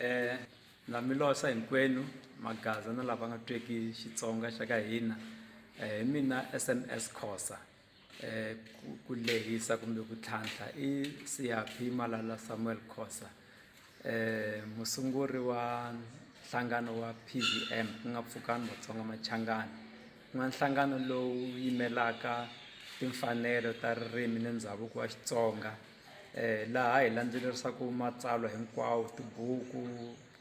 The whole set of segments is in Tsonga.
Eh, na mi losa hinkwenu magaza na lava nga tweki Xitsonga xa ka hina eh, hi mina SMS Khosa eh, ku lehisa kumbe ku tlhantlha i Siyaphi Malala Samuel Khosa musunguri wa nhlangano wa PVM ku nga Pfukani Matsonga Machangani ku nga nhlangano lowu yimelaka timfanelo ta ririmi ni ndhavuko wa Xitsonga laha hi landzelerisaka matsalwa hinkwawo tibuku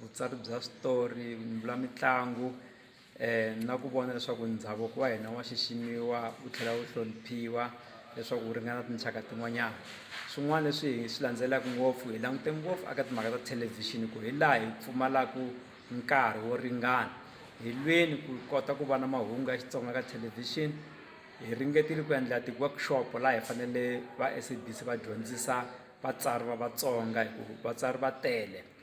vutsari bya switori mitlangu na ku vona leswaku ndhavuko wa hina wa xiximiwa wu tlhela wu hloniphiwa leswaku wu ringana tinxaka tin'wanyana swin'wana leswi hi swi landzelaka ngopfu hi langute ngopfu eka timhaka ta thelevhixini ku hi laha hi pfumalaka nkarhi wo ringana hi lweni ku kota ku va na mahungu ya Xitsonga ka thelevhixini hi ringetile ku endla ti-workshop laha hi fanele va SABC va dyondzisa vatsari va Vatsonga hi ku vatsari va tele.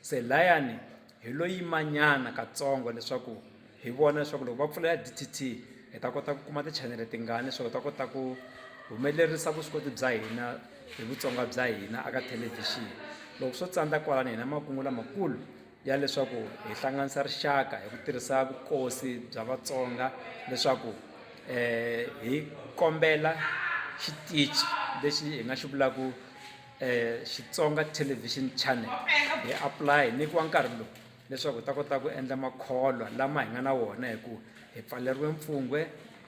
Se layani hi lo yimanyana katsongo leswaku hi vona leswaku loko va pfula ya DTT hi ta kota ku kuma tichanele tingani leswaku hi ta kota ku humelerisa vuswikoti bya hina hi vutsonga bya hina aka thelevhixini loko swo tsandza kwalano hina makungu lamakulu ya leswaku hi hlanganisa rixaka hi ku tirhisa vukosi bya vatsonga leswaku um hi kombela xitichi lexi hi nga xi vulaku Xitsonga Television Channel hi apply hi nyikiwa nkarhi lowu leswaku hi ta kota ku endla makholwa lama hi nga na wona hi ku hi pfaleriwe mpfungwe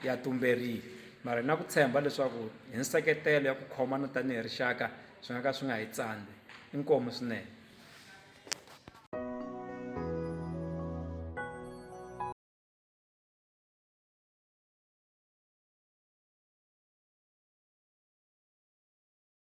ya tumberile mara hi na ku tshemba leswaku hi nseketelo ya ku khomana tanihi rixaka swi nga ka swi nga hi tsandzi inkomu swinene.